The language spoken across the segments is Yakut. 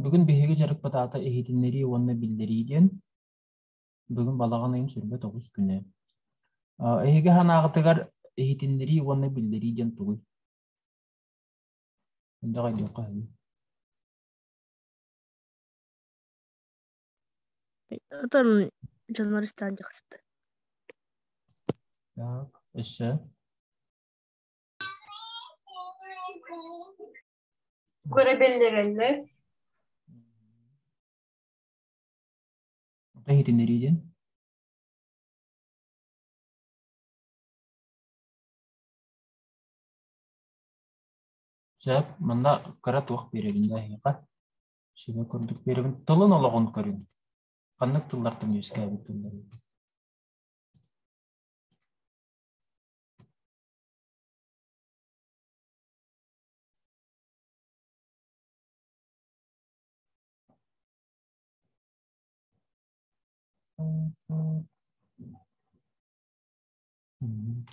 Бүгүн биһиги дьарыкпыт аата иһитиннэрии уонна биллэрии диэн. Бүгүн балаҕан ыйын сүүрбэ тоҕус күнэ. Эһиги санааҕытыгар иһитиннэрии уонна биллэрии диэн тугуй? Мындах айдыахха үһү. Отон дьонмор ыстаан дьахсыт. Так, өссө. Көрөбүллэрэллэр Ата иһитиннэриитин Сөп, манна кыра туох биэрэрин айыха. Сөбө курдук биэрэбин. Тылын олоҕун көрүн. Ханнык тыллартан үөскээбит тыллар?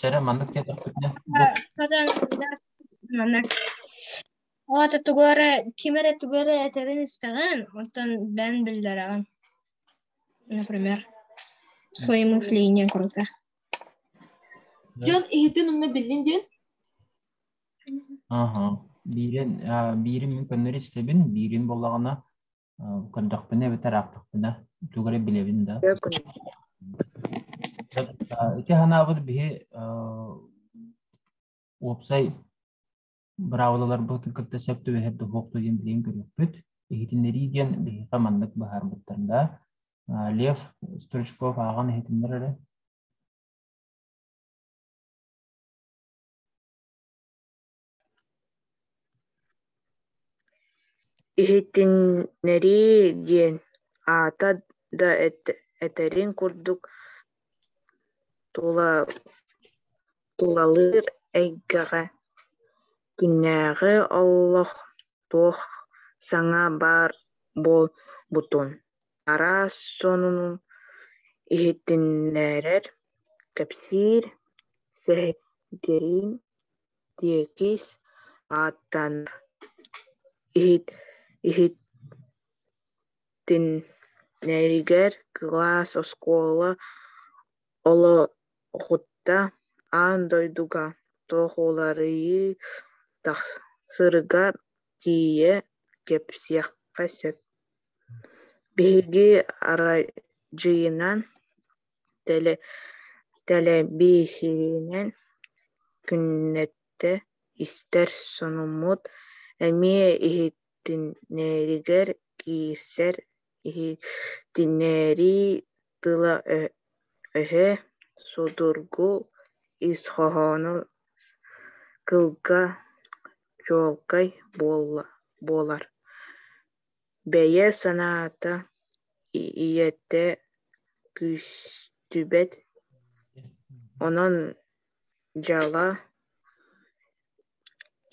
Чара маннык кэтэхпитинэ маннык Ол ата тугар ким эрэ тугар этэрин истэҕин, оттон бэн биллэрэҕин. Например, своему мышление круто. дьон иһитин умна биллин диэн Аха. Биирин, биирин мин көннөрү истэбин, биирин буоллаҕына көрдөхпүнэ эбэтэр аахтахпына тугары билэбин да. Ити ханаабыт биһи уопсай Быраабылаларбытын кытта сөп түбэһэр да суох да диэн билигин көрүөхпүт. Иһитиннэрии диэн биһиэхэ маннык быһаарбыттар да. Лев Стручков ааҕан иһитиннэр эрэ. Иһитиннэрии диэн аата да этэрин курдук тула тулалыыр эйгэҕэ күннээҕи олох туох саҥа баар буолбутун араас сонуну иһитиннэрэр кэпсиир сэһэргэһиин тиэкис ааттанар иһитиннэригэр кылаас оскуола Олоххутта аан дойдуга туох уларыйыы тахсарыгар тиийэ кэпсиэххэ сөп. Биһиги арайдьыйынан, тэлэ тэлэбиисэринэн күннэтэ истэр сонуммут эмиэ иһитиннэригэр киирсэр иһитиннэрии тыла-өһө, судургу ис хоһооно кылга чуолкай буолар, бэйэ санаата ийэтэ күүстүбэт, онон дьала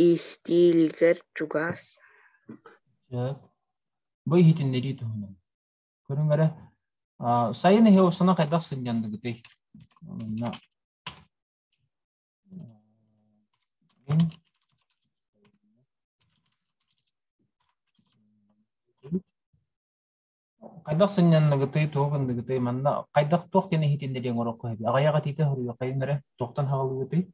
истиилигэр чугас. бу иһитиннэрии туһунан. Көрүҥ эрэ, сайын иһи осуна хайдах сынньандыгытый? Онна хайдах сынньанныгытый, туох гындыгытый, манна хайдах туох диэн иһитиннэриэҥ орокко эбит? Аҕыйах этиитэ хоруйа хайын эрэ туохтан хаалыгытый?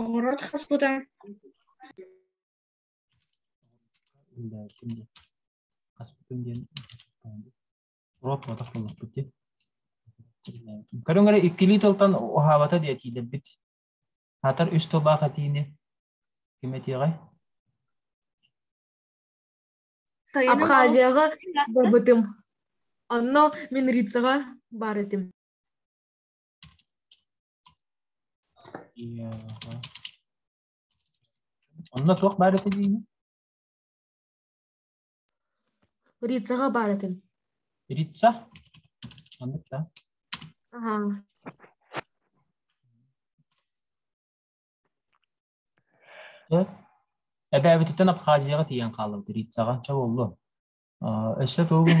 Оҕуруот хас кута хаспытым диэн ротмотах буллахпыт диэн көрүҥ эрэ иккилии тылтан уһаабата диэ тиийдэрбит атар үс тылбаах этиини ким этиэҕэй абхазияҕа бабытым онно минрицаҕа баар этим Онно туох баар этэ диини? Рицаҕа баар этим. Рица? Маннык да. Аха. Эбээбититтэн Абхазияҕа тиийэн хаалабыт Рицаҕа. Чэ боллу. Өссө тугун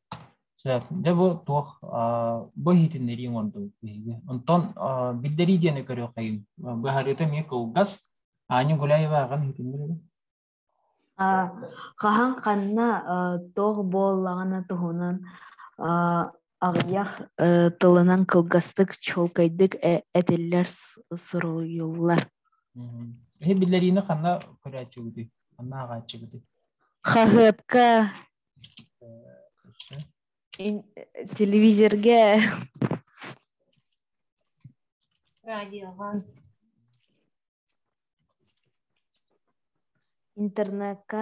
Сөп. Дьэ бу туох а, бу иһитиннэрии оҥордубут биһиги. Онтон а, биллэрии диэни көрүөххэйим. Быһаарыыта эмиэ кылгас. Аня Гуляеваҕан иһитиннэрэрэ. Хаһан ханна туох буоллаҕына туһунан аҕыйах тылынан кылгастык чуолкайдык этиллэр суруйуллар. Иһи биллэриини ханна көрөөччүгүтүй? Ханна ааҕааччыгытый? Хаһыатка телевизорга радиоҕа интернетка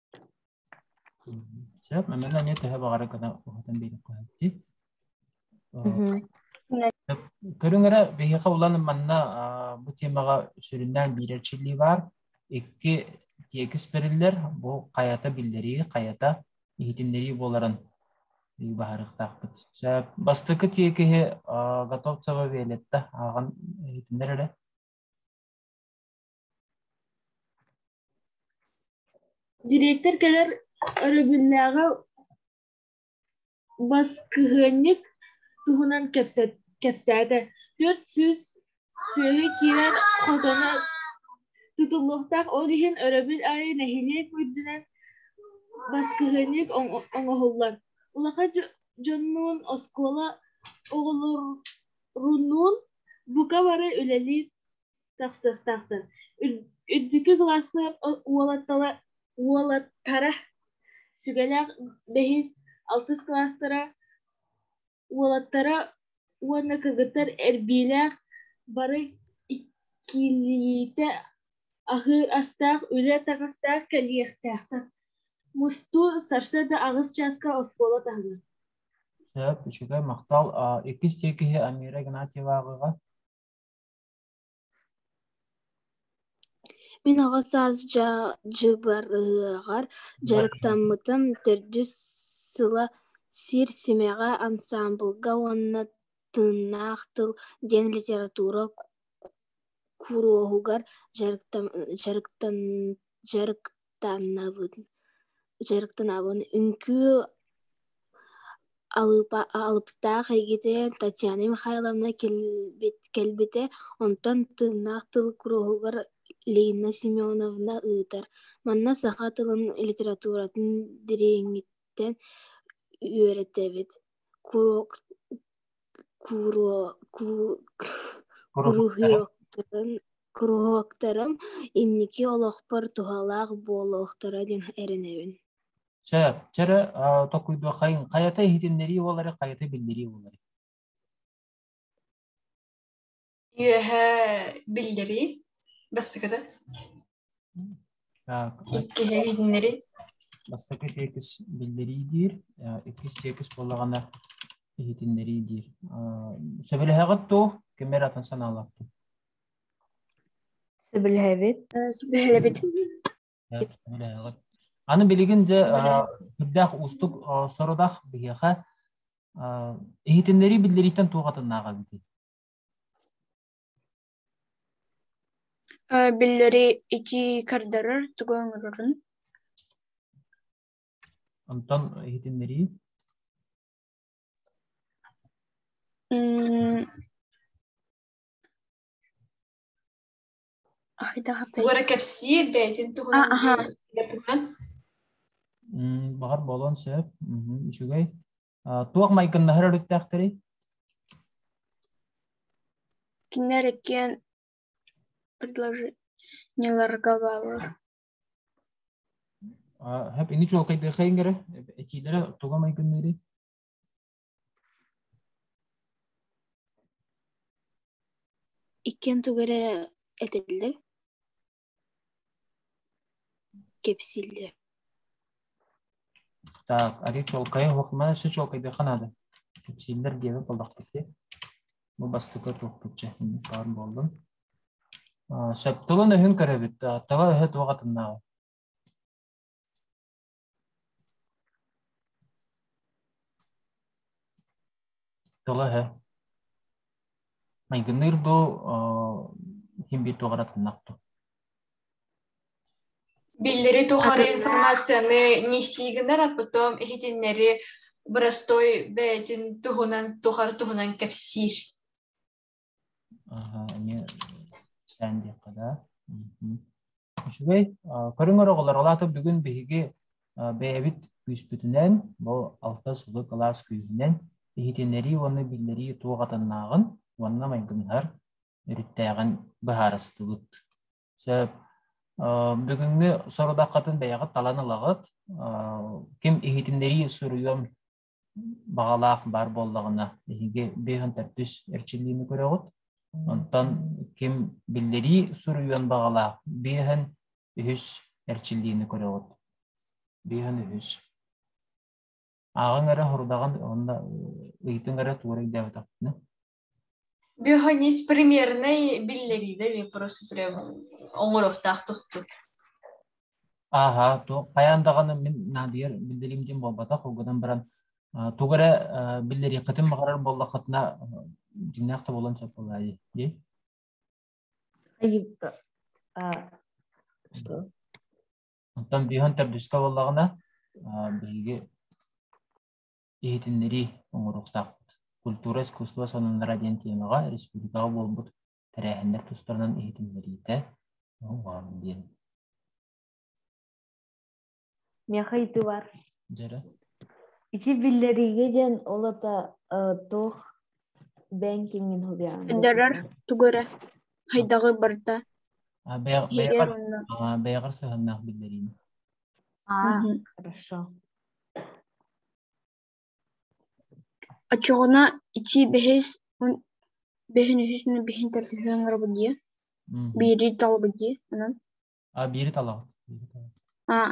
Сөп, мэмэни эмиэ төһө баҕара гына уһатан биэриэххэ сөп. Көрүҥ эрэ, биһиэхэ улан манна бу тиэмэҕэ сүрүннээн биирэр чили баар, икки тиэкис бэриллэр, бу хайата биллэрии, хайата иһитиннэрии буоларын баһарыахтаахпыт. Сөп. Бастакы тиэкиһи Готовцева Виолетта ааҕан иһитиннэр эрэ. Дириэктэр кэлэр өрөбүлнээҕи баскыһыанньык туһунан кэпсээтэ. Төрт сүүс сүөһү киирэн хотоно тутуллуохтаах, ол иһин өрөбүл аайы нэһилиэк үрдүнэн баскыһыанньык оҥоһуллар. Улахан дьоннуун, оскуола оҕолорунуун бука бары үлэлии тахсыахтаахтар үрдүкү кылааска уолаттала уолаттара сүгэлээх бэһис алтыс кылаастара уолаттара уонна кыргыттар эрбиилээх бары иккилиитэ аһыыр астаах үлэ таҥастаах кэлиэхтээхтэр мустуу сарсыарда аҕыс чааска оскуола таһылар сөп үчүгэй махтал иккис тиэкиһи амира игнатьеваҕыға Мин аҕа саас дьа дьыбарыһыаҕар дьарыктаммытым төрдүс сыла сир-симэҕэ ансаамбылга уонна Тыыннаах тыл диэн литература ку куруоһугар дьарыктам дьарыктан дьарык тааннабын дьарыктанабын үҥкүү алыпа алыптаах эйгитэ татьяна михайловна кэлбит кэлбитэ онтон тыыннаах тыл куруһугар лина семеновна ыытар манна саха тылын литературатын дириҥиттэн үөрэтэбит курок куруһуоктарын куруһуоктарым инники олохпор туһалаах буолуохтара диэн эрэнэбин Чэ, чэрэ токуйдуоххайын хайата иһитиннэрии буолары хайата биллэрии буолары Үөһээ биллэрии бастакыта. Так, Иккиһэ иһиннэрии. бастакы тиэкис биллэрии диир, э, иккис тиэкис буоллаҕына иһитиннэрии диир. Э, Сөбүлэһэҕит туу, кимэр атын санаалаахтын. Сөбүлэһэбит. Сөбүлэһэбит. Э, Сөбүлэһэҕит. Аны билигин дьэ э, сүрдээх уустук э, сорудах биһиэхэ э, иһитиннэрии биллэрииттэн туох атыннааҕа эбитий? Э, Биллэри итии көрдөрөр тугу оҥорорун Онтон иһитиннэрии. М, ай да Тугу эрэ кэпсиир бэйэтин туһунан А, аһа. тугу туһунан М, Баҕар буолуон сөп. Мгм. Үчүгэй. туох майгыннаһар өрүттээхтэрий кинилэр иккиэн предложениеларга бааллар һэп ини чуолкайдыахайынгара этиилэрэ туга майгынныырый иккиэн туга эрэ этилэр кэпсииллэр Так, ари чуолкайы хохма өсө чуолкайдыха наада. Кэпсииллэр диэбит болдахтыки. Бу бастыка туохпутча баар болдун. Сөп тылын өһүн көрөбүт. Тала өһө туох атыннааҕы. Тула иһэ. Майгыныыр дуу, ким бит туҕаратыннахту. Биллери тухары информацияны нисии гынар а потом иһитиннэри Боростой бэйэтин туһунан тухары туһунан кэпсиир Аха, эмиэ кэтээн диэххэ да. Мгм. Үчүгэй. А, көрүҥэр оҕолор, ол аата бүгүн биһиги а, бэйэбит күүспүтүнэн, бу алта сылы кылаас күүһүнэн иһитиннэрии уонна биллэрии туох атыннааҕын уонна майгынныһар өрүттээҕин быһаарыстыбыт. Сөп. Э, бүгүҥҥү сорудаххытын бэйэҕит талан ылаҕыт. Э, ким иһитиннэрии суруйуон баҕалаах баар буоллаҕына биһиги бес он төртүс эрчиллиини көрөҕүт. Онтон ким биллэрии суруйуон баҕалаах бес он үһүс эрчиллиини көрөҕүт. бес он үһүс. Ааҕыҥ эрэ, хорудаҕын уонна ыйытыҥ эрэ туора өйдөөбөтөхпүнэ. Биохоньиис примернай биллэриинэ вопросу-прям оҥоруохтаах тохтур. Ааһа, туох хайаан даҕаны мин наадыйар биллэриим диэн буолбатах, угунан баран а, тугу эрэ а, биллэриэххитин баҕарар буоллаххытына а, дьиҥнээх да буолан сөп буолаа дии. дии. Айыпта. А, что? Оттон бииһон төрдүскэ буоллаҕына а, биһиги иһитиннэрии оҥоруохтаахпыт. Культура, искусство салоннара диэн тиэмэҕэ республикаҕа буолбут тэрээһиннэр тустарынан иһитиннэриитэ оҥорон диэн. Миэхэ итибар. Дьэрэ. Ити биллэриигэ диэн олото туох бээн киҥин хобиаан. Дьэрэр тугэрэ хайдаҕы барда. Бэйэҕэр сыһыннаах биллэриин. Аа, хорошо. Оччоҕуна ити бэһис он бэһин үһүс на бэһин төрдүһү оҥоробут дии. Мгм. Биири талабыт дии. Онон. А биири талаҕыт. биири талаҕыт. Аа,